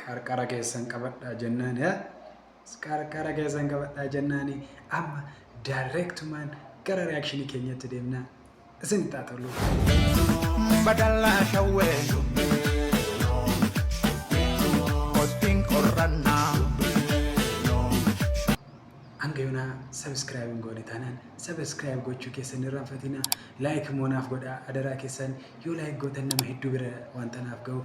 qarqara keessan qabadhaa jennaan yaa qarqara keessan qabadhaa jennaani amma daayireektumaan gara reakshinii keenyatti deemnaa isin taatoluu. Badallaa shawwee Kottiin qorrannaa hanga yoonaa sabiskiraayib hin goone taanaan sabiskiraayib gochuu keessan hin irraanfatinaa laayik immoo naaf godhaa adaraa keessan yoo laayik gootan nama hedduu bira waan tanaaf ga'uuf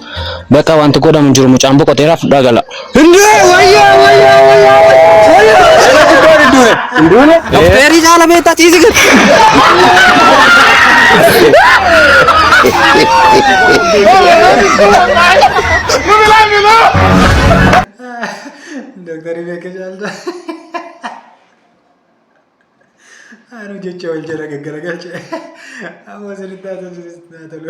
Baqa wanti godhamu hin jiru mucaan boqoteera fudhaa gala. Dokteerii caala beektaa ciisi gad. Doktarii beeka caalta. Anu jecha wal jala gaggaragalche. Amma sirriitti haa tolu.